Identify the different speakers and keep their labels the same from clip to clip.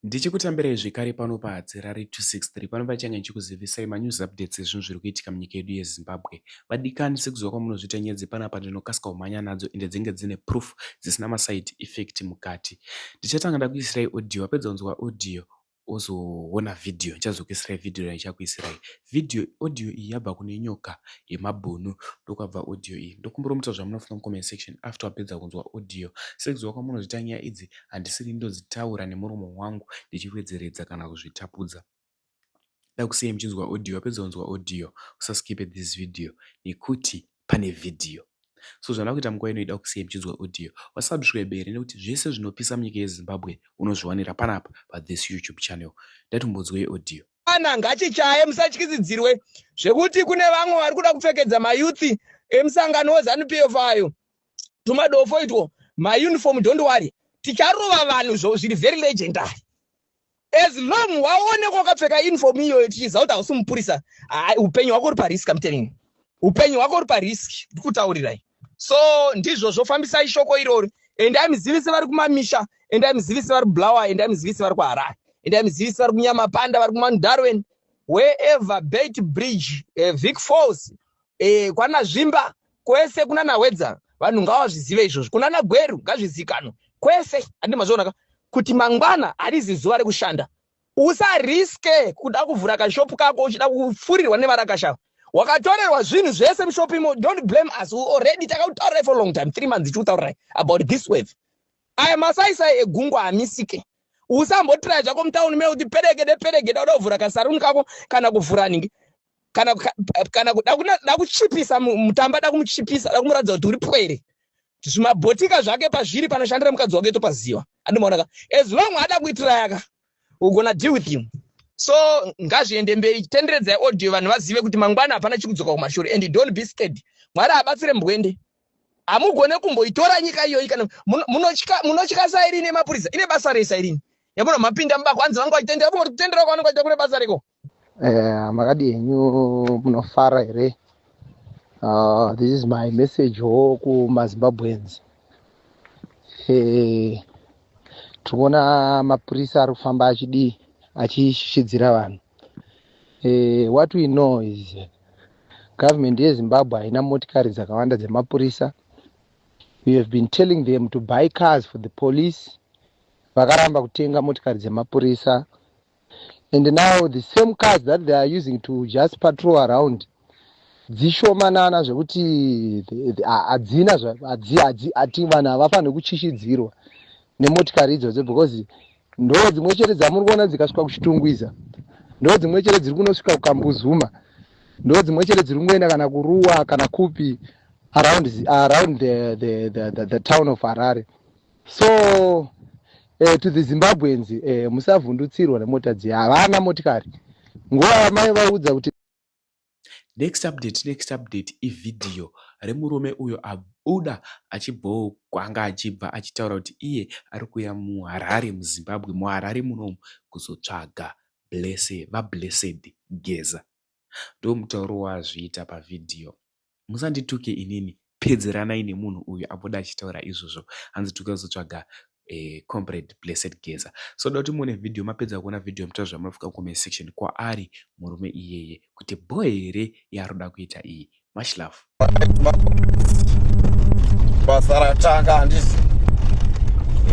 Speaker 1: Ndichikutambirai zvekare pano paHadzirare 263 pano pachange ndichikuzivisai manews updates ezvinhu zviri kuitika munyika yedu yeZimbabwe. Vadikani sekuziva kwamunozviita nyaya dzepanapa ndinokasika kumhanya nadzo ende dzinenge dzine proof dzisina maside effect mukati. Ndichatanga ndakuisirai audio wapedza kunzwa audio wozoona video ndichazokuisirai video randichakuisirai. Video audio iyi yabva kune nyoka yemabhunu ndokwabva audio iyi. Ndokumbira muita zvamunofunga mucomment section after wapedza kunzwa audio. Sekuziva kwamunozviita nyaya idzi handisiri ndodzitaura nemuromo wangu ndichiwedzeredza kana kuzvitapudza ndakusiyai muchinzwa audio wapedza kunzwa audio usaskipe this video nekuti pane video so zvandava kuita munguva ino ida kukusiyai muchinzwa audio wasabscribe here nekuti zvese zvinopisa munyika yezimbabwe unozviwanira panapa pathis youtube channel ndatombonzwei audio ana ngachichaye
Speaker 2: musatyisidzirwe zvekuti kune vamwe vari kuda kupfekedza mayouth emusangano wezanupf ayo tumadofo itwo mauniform don't worry ticharova vanhu zvo zviri very legendary as long waoneka wakapfeka uniform iyoyo tichiziva kuti hausi mupurisa upenyu hwako uri parisk amtelling upenyu hwako uri parisk ndi kutaurirai so ndizvo zvofambisai shoko irori endai muzivise vari kumamisha endai muzivise vari kublower endai muzivise vari kuharare endai muzivise vari kunyamapanda vari kumandarwen wherever bait bridge eh, vic falls eh, kwana zvimba kwese kunana hwedza vanhu ngavazvizive izvozvo kunana gweru ngazvizikanwe kwese andi mazvionaka kuti mangwana harizi zuva rekushanda usariske kuda kuvhura kashopu kako uchida kufurirwa nevarakashava wakatorerwa zvinhu zvese mushopu imo don't blame us we already takakutaurirai for long time three months tichikutaurirai about this wave aya masaisai egungwa hamisike usambotiraya zvako mutauni mekuti perekede perekede uda kuvhura kasaruni kako kana kuvhura ningi kana kana kuda kuda kuchipisa mutamba da kumuchipisa da kumuratidza kuti uri pwere zvimabhotika zvake pazviri panoshandira mukadzi wake topaziva andimaonaka as long ada kuitira yaka we're gonna deal with him so ngazviende mberi tenderedzai audio vanhu vazive kuti mangwana hapana chikudzoka kumashure and don't be scared mwari abatsire mbwende hamugone kumboitora nyika iyoyi kana munotya sairini yemapurisa ine basa rei sairini yamuna mapinda mubako hanzi vanga vachitendera vanga vachitendera kwavanenge vachita kune basa reko Eh, makadii
Speaker 3: henyu munofara here uh, this is my message wo kumazimbabweans eh, tiri kuona mapurisa ari kufamba achidii achishishidzira vanhu eh, what we know is government yezimbabwe haina motikari dzakawanda dzemapurisa we have been telling them to buy cars for the police vakaramba kutenga motikari dzemapurisa and now the same cars that they are using to just patrol around dzishomanana zvekuti hadzina ati vanhu havafanire kuchishidzirwa nemotikari idzodzo because ndo dzimwe chete dzamuri kuona dzikasvika kuchitungwiza ndo dzimwe chete dziri kunosvika kukambuzuma ndo dzimwe chete dziri kungoenda kana kuruwa kana kupi around, around the, the, the, the, the town of harare so eh, to the zimbabweans eh, musavhundutsirwa nemota dziya havana motikari nguva yamai vaudza kuti
Speaker 1: next update next update ivhidhiyo remurume uyo abuda achibhowo kwanga achibva achitaura kuti iye ari kuuya muharare muzimbabwe muharare munomu kuzotsvaga blese vablessed geza ndo mutauro waazviita pavhidhiyo musandituke inini pedzeranai nemunhu uyu abuda achitaura izvozvo hanzi tuka uzotsvaga eh, comrade blessed geza so da kuti muone video mapedza kuona video muta zvamunofunga comment section kwaari murume iyeye kuti bho here yaari kuda kuita iyi much love
Speaker 4: basa ratanga handisi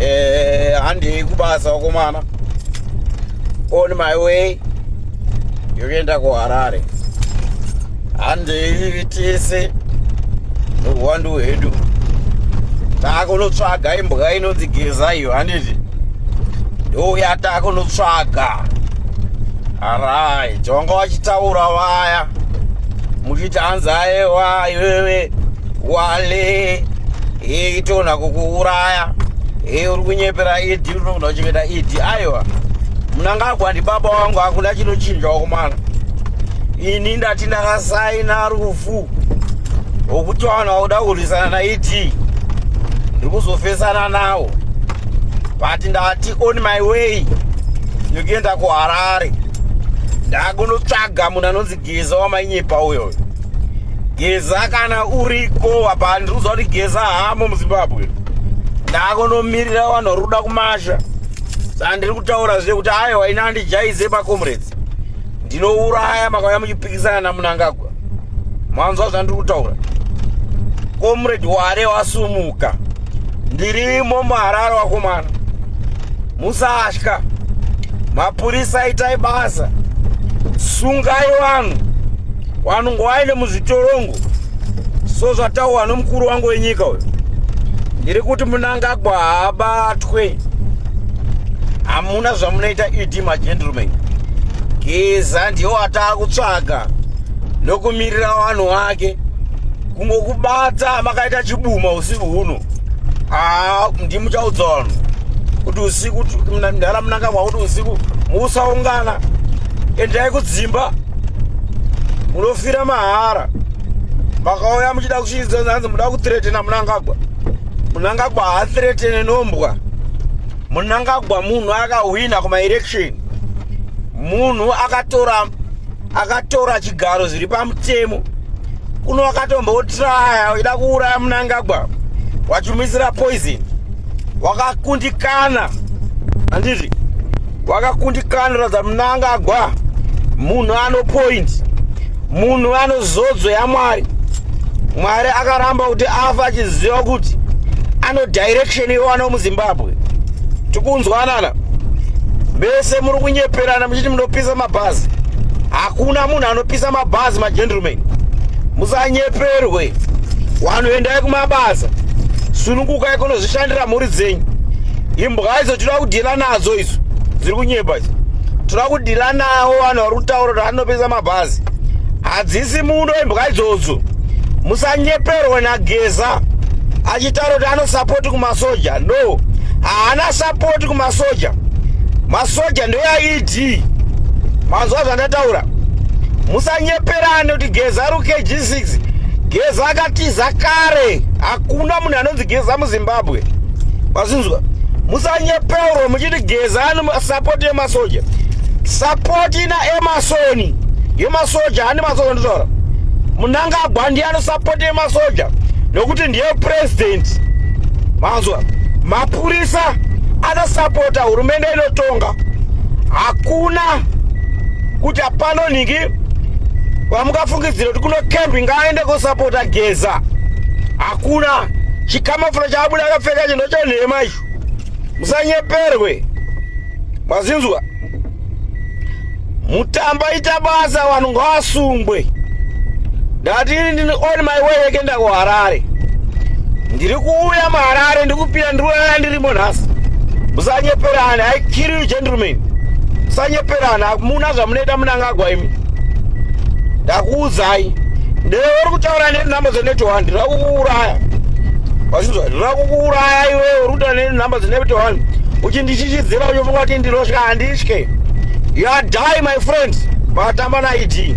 Speaker 4: eh, handei kubasa wakomana on my way yokuenda kuharare handei tese nohwandu hwedu taakunotsvaga imbwa inonzi geza iyo handiti ndouya taakunotsvaga arai jonga wachitaura vaya muchiti hanzi aewa iwewe wale hei tona kukuuraya hei uri kunyepera ed unokuda kuchengeta ed aiwa munangagwa ndibaba wangu hakuna chinochinjawo kumana ini ndati ndakasaina rufu wokuti vanhu vakuda kurwisana naed ndiri kuzofesana nawo but ndati on my way yokuenda kuharare ndakunotsvaga munhu anonzi geza wamainyepa uyo geza kana uriko apa handiruza kuti geza hamo muzimbabwe ndakonomirira vanhu vari kuda kumasha saa ndiri kutaura zve kuti ayo waina andijaize pacomrades ndinouraya makauya muchipikisana namunangagwa mwanzwa zvandiri kutaura comrade ware wasumuka ndirimo muharare wakomana musatya mapurisa itai basa sungai vanhu vanhu ngovaende muzvitorongo so zvataurwa nomukuru wangu wenyika uyo ndiri kuti munangagwa haabatwe hamuna zvamunoita ed magentleman geza ndiwo ataa kutsvaga nokumirira vanhu wake kungokubata makaita chibuma usiku huno haa ndimuchaudza vanhu kuti usiku ndara munanga mwakuti usiku musaungana endai kudzimba munofira mahara makauya muchida kuchiidza hanzi muda kutretena munangagwa munangagwa haatretene nombwa munangagwa munhu akahwina kumaelection munhu akatora akatora chigaro zviri pamutemo kuno wakatombotraya uchida kuuraya munangagwa wachimuisira poison wakakundikana handiti wakakundikana ratidza munangagwa munhu ano point munhu ano zodzo yamwari mwari akaramba kuti afa achiziva kuti ano direction iwana muzimbabwe tikunzwanana vese muri kunyeperana muchiti munopisa mabhazi hakuna munhu anopisa mabhazi magentleman musanyeperwe wanhu endai kumabasa sunungukai kunozvishandira mhuri dzenyu imbwa idzo tinoda kudhila nadzo idzo dziri kunyepa idzo tinoda kudhila nawo vanhu vari kutaura kuti anopisa mabhazi hadzisi muno imbwa idzodzo musanyeperwe nageza achitaura kuti anosapoti kumasoja no haana sapoti kumasoja masoja ndeyaiti Dee. Manzwa zvandataura. Musanyeperane kuti Geza ari KG6. Geza akatiza kare. Hakuna munhu anonzi Geza muZimbabwe. Mazinzwa. Musanyeperwe muchiti Geza ani support yemasoja. Support ina Emerson. Yemasoja ani masoja nditaura. Munangagwa ndiye anosupport yemasoja nokuti ndiye president. Manzwa. Mapurisa anosapota hurumende inotonga hakuna kuti hapano nhingi vamungafungidzira kuti kuno kembi ngaaende kosapota geza hakuna chikamafura chaabuda akapfeka chinhu chenhema icho musanyeperwe mazinzwa Mutamba ita basa vanhu ngavasungwe. Ndati ini ndini on my way yekenda kuHarare. Ndiri kuuya muHarare ndikupinda ndiri kuuya ndirimo nhasi. Musanyeperane, I kill you gentlemen. Musanyeperane, hamuna zvamunoita munangagwa imi. Ndakuudzai. Ndewe uri kutaura nenhamba dzenetwork handi rakukuuraya. Wachinzwa rakukuuraya iwewe uri kutaura nenhamba dzenetwork handi. Uchindishishidzira uchifunga kuti ndinotya handitye. you are die my friend vakatamba naid